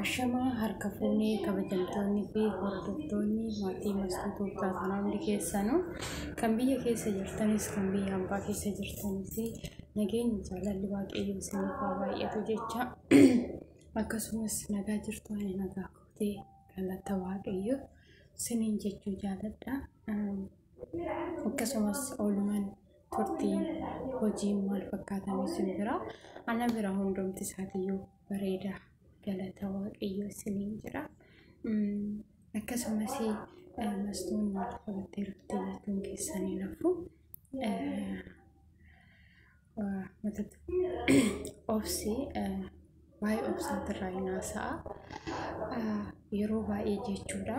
Ashamaa harka fuunee kabajamtoonni fi hordoftoonni maatii maskuutuu taatanii hundi keessanuu kan biyya keessa jirtanis kan biyya hambaa keessa jirtanis nageenyi jaalalli waaqayyo isiniif haa baay'atu jecha akkasumas nagaa jirtu ani nagaa kootee galata waaqayyo siniin jechuu jaaladha. Akkasumas oolumaan turtii hojii maal fakkaatan isin bira ana bira hundumti isaatiyyuu bareeda galata waaqayyo isiniin jira akkasumas mastuun maal qabattee dhufte jechuun keessan hin hafu matatti obsi Waa'ee obsaatirraa hin haasa'a. Yeroo baay'ee jechuudha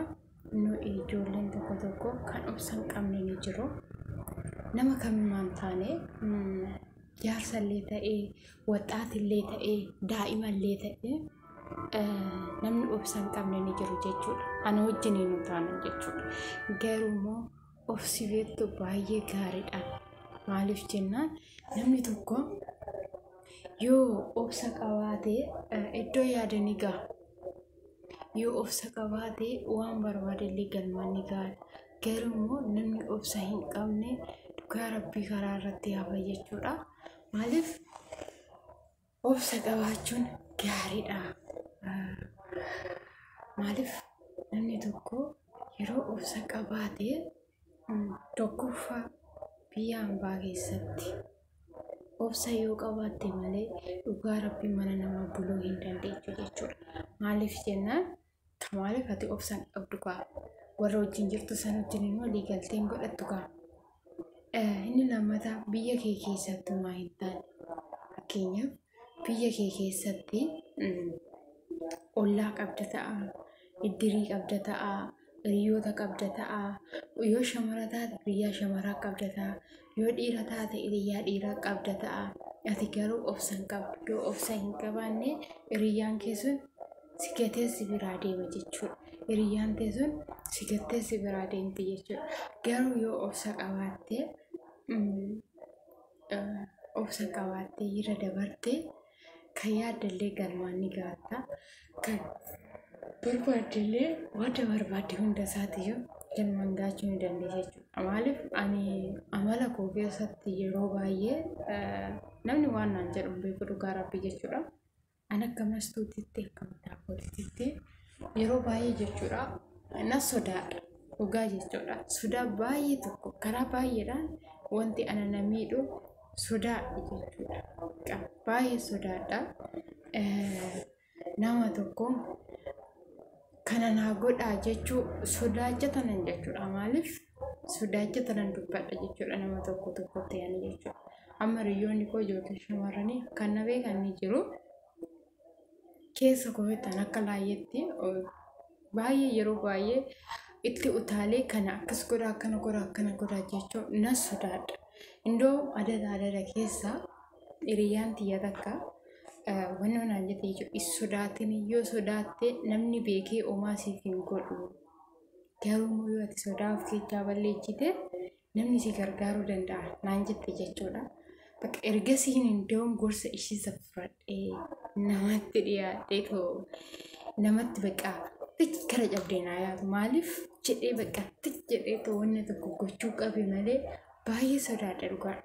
nu ijoolleen tokko tokko kan obsa hin qabne ni jiru. Nama kamimaan taane jaarsallee ta'ee, waxxaatillee ta'ee, daa'imallee ta'ee namni obsa hin qabne ni jiru jechuudha. Ana wajjin hin taane jechuudha. Garuu immoo of si beektu baay'ee gaariidha. Maaliif jennaan namni tokko yoo obsa qabaate iddoo yaade ni gaha. Yoo obsa qabaate waan barbaade illee galmaan ni gaha. Garuu immoo namni obsa hin qabne dhugaa rabbii karaa irratti hafa jechuudha. Maaliif Obsa qabaachuun gaariidha. Maaliif namni tokko yeroo obsa qabaate tokkoffaa biyya hambaa keessatti obsa yoo qabaatte malee dhugaa rabbii mana namaa buluu hin dandeettu jechuudha. Maaliif jennaan? Ta maaliif ati obsaan qabdu kaa warra wajjin jirtu san wajjin immoo waliigalteen godhattu kaa. Eh, Inni lammataa biyya kee keessatti homaa hin taane. Fakkeenyaaf biyya kee keessatti mm, ollaa qabda ta'a, iddirii qabda ta'a, hiriyoota qabda ta'a, yoo shamara taate biyyaa shamaraa qabda ta'a, Yoo dhiira taate iriyyaa dhiiraa qabda ta'a. Ati garuu obsa hin qabdu. Yoo obsa hin qabaanne iriyyaan kee sun si gatee si biraa deema jechuudha. Iriyyaan tee sun si gattee si biraa deemti jechuudha. Garuu yoo obsa qabaatte obsa qabaatte irra dabarte kan yaadallee galmaan ni gaatta kan barbaaddellee wanta barbaadde hunda isaatiyyuu galmaan gaachuu ni dandeessa jechuudha. Maaliif ani amala koo keessatti yeroo baay'ee eh, namni waan naan jedhu hin beeku dhugaa rabbii jechuudha. An akka mastuutitti akkam daawwatititti yeroo baay'ee jechuudha nan sodaadha dhugaa jechuudha sodaa baay'ee tokko karaa baay'eedhaan wanti ana na miidhu sodaadha jechuudha Qa- baay'ee sodaadha Eh, nama tokko kana naa godhaa jechuu sodaacha tanan jechuudha maaliif sodaacha tanan dubbadha jechuudha nama tokko tokko ta'an jechuudha amma hiriyoonni koo ijoollee shamarranii kan na beekan ni jiru keessa koo beektan akka laayyeetti baay'ee yeroo baay'ee itti utaalee kana akkas godha akkana godha akkana godha jechuu nan sodaadha. Indoo adada adada keessa hiriyyaan tiyya takka wanni naan jette jechuudha. Is sodaatin yoo sodaatte namni beekee omaa siif hin godhu. Garuu yoo ati sodaa of keessaa balleessite namni si gargaaruu danda'a naan jette jechuudha. Bakka ergasii iddoon gorsa ishii saffradhee namatti dhiyaadhee too namatti bakka tich kara cabdee naa yaadu maaliif jedhee bakka tich jedhee too wanna tokko gochuu qabe malee baay'ee sodaadha dhugaa.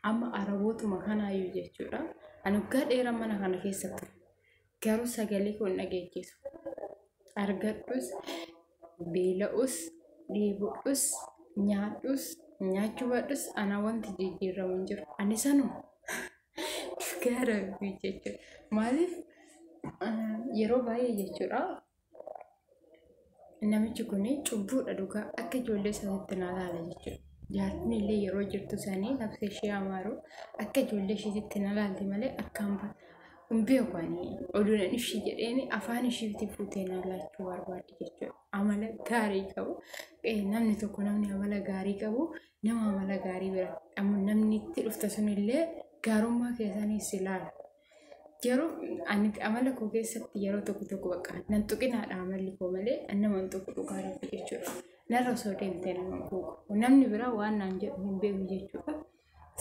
Amma arabootuma kanaayyuu jechuudha. Ani waggaa dheeraa mana kana keessa ture. Garuu sagalee koo hin dhageechisu. Argadhus, beela'us, dheebodhus, nyaadhus, nyaachuu baadhus anaa wanti jijjiiramu hin jiru. Ani sanuma. Dhugaa rabbii jechuudha. Maaliif yeroo baay'ee jechuudha namichi kun cubbuudha dhugaa akka ijoollee isaatti na laala jechuudha. Jaartiin illee yeroo jirtu sanii nafsa ishee amaaru akka ijoollee isheetitti na laalti malee akkaan hin beeku ani oduudhaan ishii jedheen afaan ishiitti fuutee na laachuu barbaaddi jechuudha. Amala gaarii qabu namni tokko namni amala gaarii qabu nama amala gaarii bira namni itti dhufte sunillee gaarummaa keessaniis ilaala. Garuu ani amala koo keessatti yeroo tokko tokko bakka nan tuqinaadha amalli koo malee nama hin tuqu dhugaa rabbi jechuudha. Narra osoo deemtee nama hin tuqu. Namni biraa waan naan jedhu hin beeku jechuudha.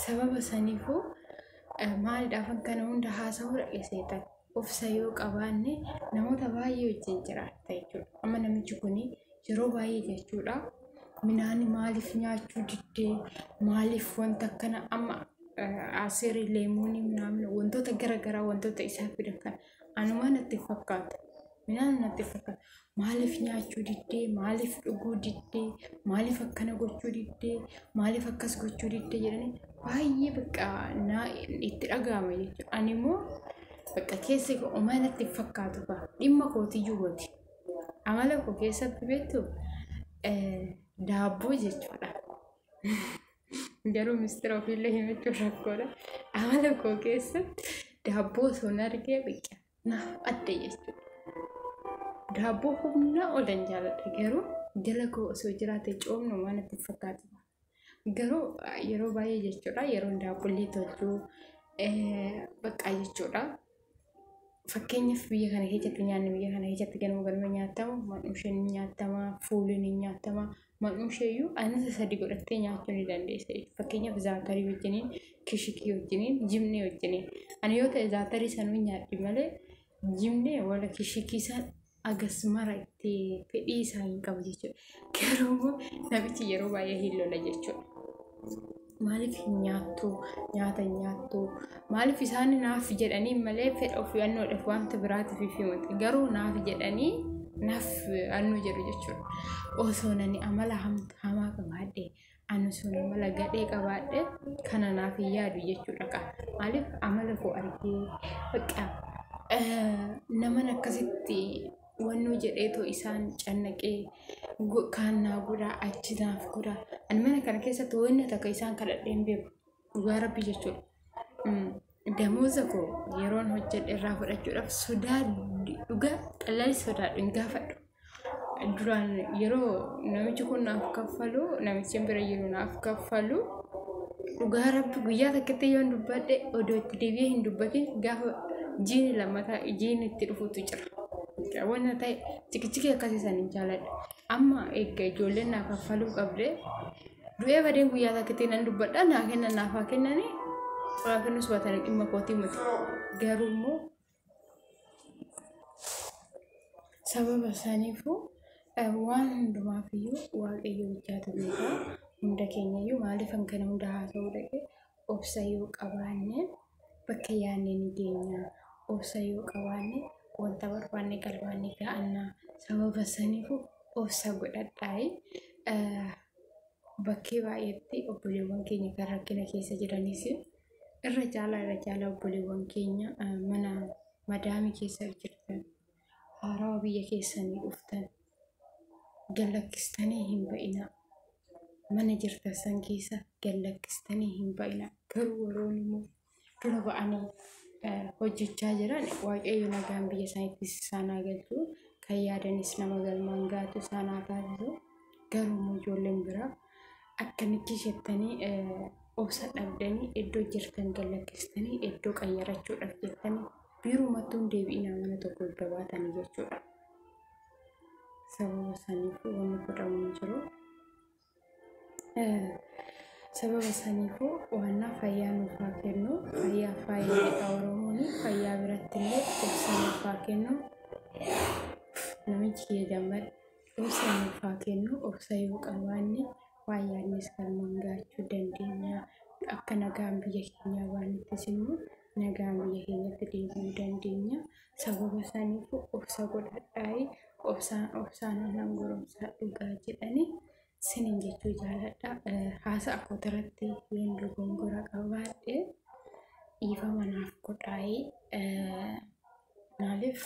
Sababa saniifuu maalidhaaf akkana hunda haasa'uu dhaggeessee ta'e. Obsa yoo qabaanne namoota baay'ee wajjin jiraatta jechuudha. Amma namichi kun yeroo baay'ee jechuudha minaani maaliif nyaachuu diddee maaliif wanta akkana amma asirii leemuunii minaamin wantoota gara garaa wantoota isaa fidan kan anumaa natti fakkaata minaan natti fakkaata maaliif nyaachuu diddee maaliif dhuguu diddee maaliif akkana gochuu diddee maaliif akkas gochuu diddee jedhanii baay'ee bakka naa itti dhaga'ama jechuudha ani immoo bakka keessi omana itti fakkaatu ba'a dhimma kootiyyuu miti. Amala koo keessatti beektu daabboo jechuudha. Garuu mistira ofiillee himachuun rakkoodha. Amala koo keessatti daabboo osoo hin argee biqila. Naaf adda jechuudha. Daabboo humnaa ol hin jaaladha garuu jala koo osoo jiraate coomnu waan itti fakkaatu. Garuu yeroo baay'ee jechuudha yeroon daabboollee tolchu baqqaa jechuudha. Fakkeenyaaf biyya kana keessatti nyaanni biyya kana keessatti ganama ganama nyaatamu maqmasheen ni nyaatama, fuulleen ni nyaatama. Maqmashee iyyuu anniisa sadii godhattee nyaachuu ni dandeessa. Fakkeenyaaf zaakarii wajjiniin, kishikii wajjiniin, jimnee wajjiniin. Ani yoo ta'e zaakarii sanuun nyaadhe malee jimnee wala kishikii san agas mara itti fedhii isaa hin qabu jechuudha. Garuu immoo namichi yeroo baay'ee hin lola jechuudha. Maaliif hin nyaattu? Nyaata hin nyaattu? Maaliif isaan naaf jedhanii malee fedha ofii annoodhaaf wanta biraatiif hin himatu. Garuu naaf jedhanii naaf annoo jedhu jechuudha. Osoo nani amala hamaa qabaadhe Ani sun amala gadhee qabaadhe kana naaf hin yaadu jechuudha qa. Maaliif amala koo argee bakka naman akkasitti wannoo jedhee too isaan cannaqee kaan naa godhaa achi naaf godhaa. Ani mana kana keessatti wanna takka isaan kadhadhee hin beeku. Dhugaa rabbi jechuudha damooza koo yeroon hojjedhe irraa fudhachuudhaaf sodaa dhugaa xallali sodaadhu hin gaafadhu. Duraan yeroo namichi kun naaf kaffalu namichi bira jiru naaf kaffalu dhugaa rabbi guyyaa takkatti yoon dubbadhe odoo itti deebi'ee hin dubbatin gaafa jiini lammataa jiini itti dhufutu jira. Wanna ta'e cikichikii akkasii san hin jaaladhu. Amma eegga ijoolleen naa kaffaluu qabde Du'ee badeen guyyaa takkitti nan dubbadha naa kennan naaf haa kennanii waan kennus baatanii dhimma kootii miti. Garuu immoo sababa isaaniifuu eh, waan hundumaafiyyuu waaqayyo hojjaatu beekaa hunda keenyayyuu maaliif kan kana hunda haasa'uu dhaqee Obsa yoo qabaanne bakka yaadne ni geenya. Obsa yoo qabaanne wanta barbaanne galmaan ni ga'anna. Sababa saniifu obsa godhadhaayi. Bakkee baay'eetti obboleewwan keenya kan rakkina keessa jiranis irra caalaa irra caalaa obboleewwan keenya mana madaamii keessa jirtan haarawaa biyya keessanii dhuftan gallakkistanii hin ba'inaa mana jirtan san keessa gallakkistanii hin ba'inaa garuu warroonni immoo dura ba'anii hojjechaa jiran waaqayyo nagaan biyya isaaniitti isaan haa galchu kan yaadanis nama galmaan gaatu isaan haa taasisu garuu immoo ijoolleen biraa akkamitti jettanii obsa dhabdanii iddoo jirtan gallakkistanii iddoo qayyarachuudhaaf jettanii biirumattuu hin deebi'inaa mana tokko itti baatanii jechuudha. sababa saniifuu wanni godhamu hin jiru. Eh, Sababa saniifuu waannaa fayyaa nuuf haa kennu. Fayyaa faayidaadha Oromoon fayyaa biratti illee obsa nuuf haa kennu. Namichi kiyya jammad obsa nuuf haa kennu. Obsa yoo qabaanne waan yaadnes galmaan gaachuu dandeenya. Akka nagaan biyya keenyaa baanuttis immoo nagaan biyya keenyatti deebi'uu dandeenya. Sababa saniif obsa godhadhaayi obsaan obsaan nan goromsaa dhugaa jedhanii sinin jechuu jaaladha. Haasa'a kootirratti yoon dogongora qabaadhe dhiifama naaf godhaayi. Maaliif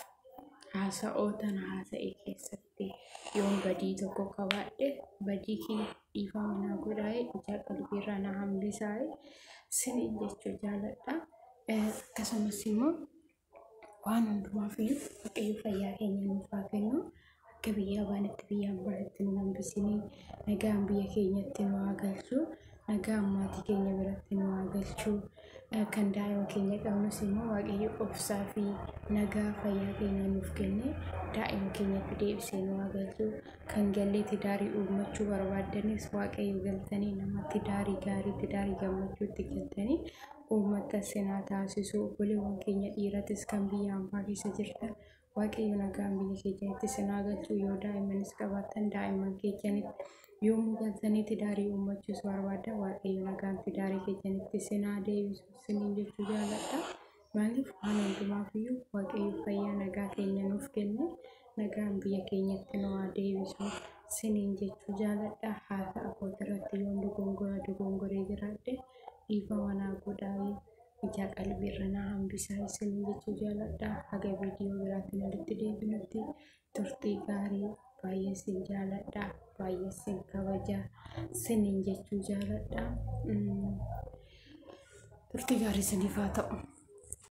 haasa'oo tana haasa'e keessatti yoon badii tokko qabaadhe badii kiyya dhiifama naa godhaaye ijaa qalbiirraa na hambisaaye siniin jechuu jaaladha. Akkasumas immoo waan hundumaaf iyyuu waaqayyo fayyaa keenya nuuf haa kennu. akka biyyaa baanitti biyyaan baanitti nu hambisinii nagaan biyya keenyatti nu haa galchu nagaan maatii keenya biratti nu haa galchu kan daa'ima keenya qabnus immoo waaqayyo obsaa fi nagaa fayyaa keenya nuuf kennee daa'ima keenyatti deebisee nu haa galchu kan gallee tidaarii uummachuu barbaaddanis waaqayyo galtanii nama tidaarii gaarii tidaarii gammachuutti galtanii uummata sinaa taasisuu obboleewwan keenya dhiiratis kan biyya ambaa keessa jirtan Waaqayyo nagaan biyya keessanitti isin haa galchu. Yoo daa'immanis qabaattan daa'imman keessanitti yommuu galtanii tidaarii uummachuus barbaaddan Waaqayyo nagaan tidaarii keessanitti isin haa deebisu isiniin jechuu jaalladha. Maaliif waan hundumaaf iyyuu Waaqayyo fayyaa nagaa keenya nuuf kenne nagaan biyya keenyatti nu haa deebisu isiniin jechuu jaalladha. Haasa abbootii irratti yoon dogongora dogongoree jiraadhe dhiifama naa godhaa. ijaa qalbii irra naa hambisaa isin jechuu jaaladha haga viidiyoo biraatiin walitti deebinutti turtii gaarii baay'ee sin jaaladha baay'ee sin kabaja sinin jechuu jaaladha turtii gaarii siniif haa ta'u.